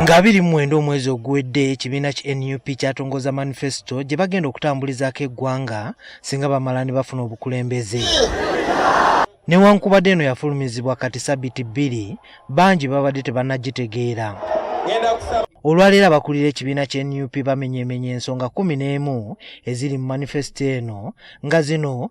nga biri mu mwenda omwezi oguwedde ekibiina ki nup kyatongoza manifesito gye bagenda okutambulizaako eggwanga singa bamala ne bafuna obukulembeze newankubadde eno yafulumizibwa kati sabiti bbiri bangi babadde tebannagitegeera olwaleero abakulira ekibiina kya nup bamenyemenya ensonga kumi n'emu eziri mu manifesito eno nga zino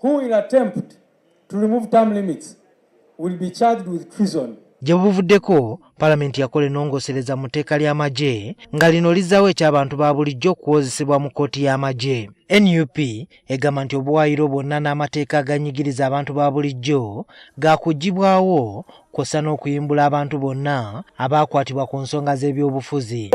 Who will attempt to remove term limits will be charged with treason. Gye buvuddeko palamenti yakola enongosereza mu tteeka ly'amagye nga lino lizzaawo eky'abantu ba bulijjo okuwozesebwa mu kkooti y'amagye nup egamba nti obuwaayiro bwonna n'amateeka aganyigiriza abantu ba bulijjo gaakuggibwawo kwossa n'okuyimbula abantu bonna abaakwatibwa ku nsonga z'ebyobufuzi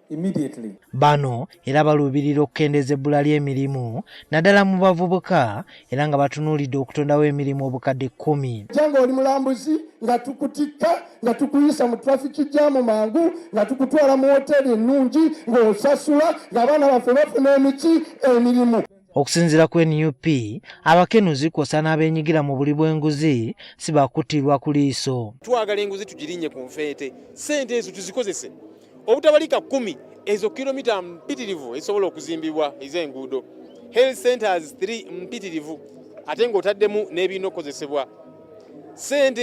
immediately. Bano era baluubirira okukendeeza ebbula ly'emirimu naddala mu bavubuka era nga batunuulidde okutondawo emirimu obukadde kkumi. Janga oli mulambuzi nga tukutikka nga tukuyisa mu trafiki jaamu mangu nga tukutwala mu woteeri ennungi ng'osasula ng'abaana baffe bafuna emiti emirimu. Okusinzira ku nup abakenuzi kwosa n'abenyigira mu buli bw'enguzi si bakuttirwa ku liiso. Twagala enguzi tugirinye ku nfeete, ssente ezo tuzikozese obutabalika kumi ezo kilomita mpitirivu ezisobola okuzimbibwa ez'enguudo health centers 3 mpitirivu ate ng'otaddemu n'ebirina okukozesebwa sente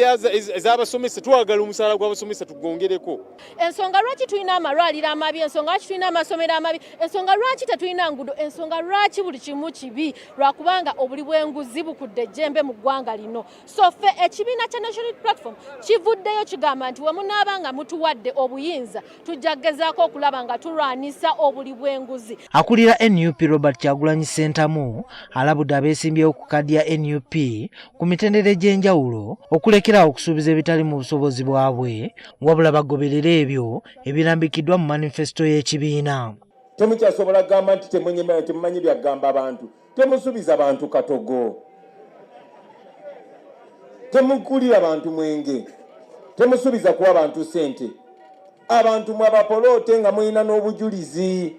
ez'abasomesa twagala omusaala gw'abasomesa tugongereko ensonga lwaki tulina amalwaliro amabi ensonga lwaki tulina amasomero amabi ensonga lwaki tetulina ngudo ensonga lwaki buli kimu kibi lwakubanga obuli bw'enguzi bukudde ejjembe mu ggwanga lino so ffe ekibiina kya national platform kivuddeyo kigamba nti wemunaaba nga mutuwadde obuyinza tujja kugezaako okulaba nga tulwanyisa obuli bw'enguzi. Akulira nup Robert Kyagulanyi Ssentamu alabudde abeesimbyewo ku kaadi ya nup ku mitendera egy'enjawulo okulekerawo okusuubiza ebitali mu busobozi bwabwe wabula bagoberere ebyo ebirambikiddwa mu manifesito y'ekibiina. Temukyasobola kugamba nti temunyimanyi temumanyi byagamba abantu. temusubiza bantu katogo temukulira bantu mwenge temusubiza kuwa bantu sente abantu mwabapoloote nga mulina n'obujulizi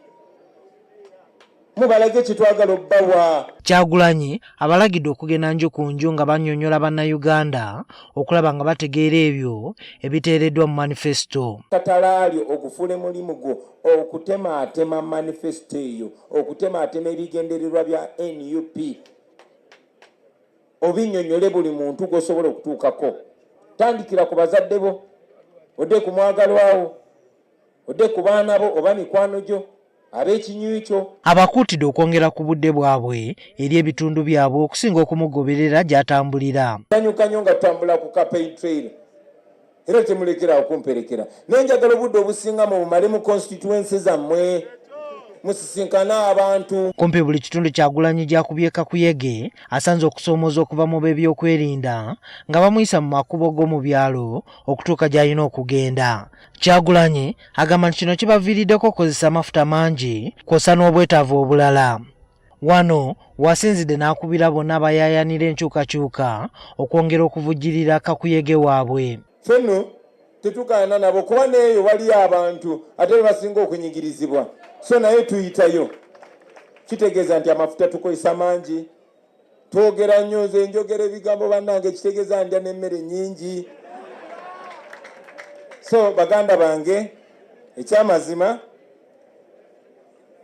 mubalage kyetwagala obbawa kyagulanyi abalagidde okugenda nju ku nju nga banyonyola bannayuganda okulaba nga bategeera ebyo ebiteereddwa mu manifesito katalaali ogufule mulimu gwo okutemaatema manifesto eyo okutemaatema ebigendererwa bya nup obinyonyole buli muntu gwosobola okutuukako tandikira ku bazadde bo odde ku mwagalwawo odde ku baana bo oba mikwano gyo ab'ekinywi kyo abakuutidde okwongera ku budde bwabwe eri ebitundu byabwe okusinga okumugoberera gy'atambulira sanyuka nyo nga tutambula ku kapeyi trail era temulekeraawo kumperekera naye njagala obudde obusinga mu bumale mu konsitituwensi zammwe musisinkane abantu kumpi buli kitundu kyagulanyi gyakubye kakuyege asanze okusoomooza okuva mu b'ebyokwerinda nga bamuyisa mu makubo g'omu byalo okutuuka gy'alina okugenda kyagulanyi agamba nti kino kibaviiriddeko okukozesa amafuta mangi kwosa n'obwetaavu obulala Wano wasinzidde n'akubira bonna abayaayanira enkyukakyuka okwongera okuvujjirira kakuyege waabwe. Ffe nno tetugaana nabo kuba n'eyo waliyo abantu ate be basinga okunyigirizibwa, so naye tuyitayo. Kitegeeza nti amafuta tukozesa mangi, twogera nnyo, nze njogera ebigambo bannange, kitegeeza ndya n'emmere nnyingi. So baganda bange ekyamazima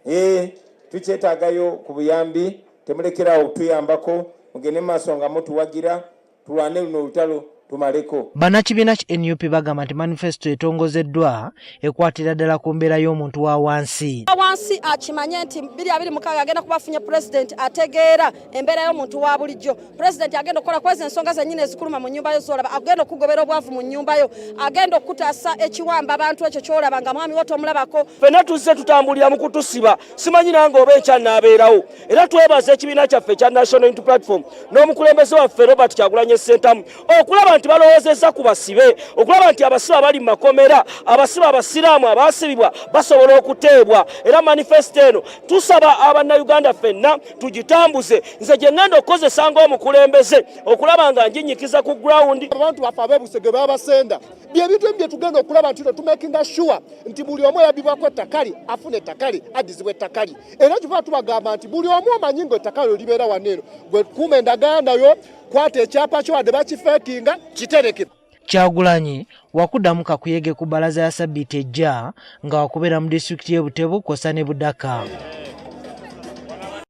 Eh, tukyetagayo ku buyambi temulekerawo okutuyambako mugende mu maaso nga mutuwagira tulwane luno olutalo tumaleko bannakibiina ki nup bagamba nti manifesito etongozeddwa ekwatira ddala ku mbeera y'omuntu wa wansi wansi akimanye nti 226 agenda kubafunye pulezidenti ategeera embeera y'omuntu wa bulijjo pulezidenti agenda okukola kwezi ensonga zenyini ezikuluma mu nyumba yo zolaba agenda okugobera obwavu mu nyumba yo agenda okukutaasa ekiwamba abantu ekyo kyolaba nga mwami wo tomulabako fena tuzze tutambulira mu kutusiba simanyi nange oba ekyanabeerawo era twebaza ekibiina kyaffe ekya national unity platform n'omukulembeze waffe robert kyagulanye sentamu okulaba nti balowoozezza ku basibe okulaba nti abasibe abali mu makomera abasibe abasiraamu abaasibibwa basobola okuteebwa era manifesito eno tusaba abannayuganda fenna tugitambuze nze gye ŋŋenda okukozesa ng'omukulembeze okulaba nga njinyikiza ku gurawundi abantu baffe abeebusege babasenda byebintu emu byetugenda okulaba nti no tumakinga sure nti buli omu eyabibwako ettakali afuna ettakali addizibwa ettakali era kiva tubagamba nti buli omu omanyi nga ettakali olibeera wano eno gwe kuuma endagaano yo kwata ekyapa kyo wadde bakifeekinga kitereke kyagulanyi wakudamu kakuyege ku balaza ya sabiti ejja nga wakubeera mu disitulikiti y'e butebu kwosa ne budaka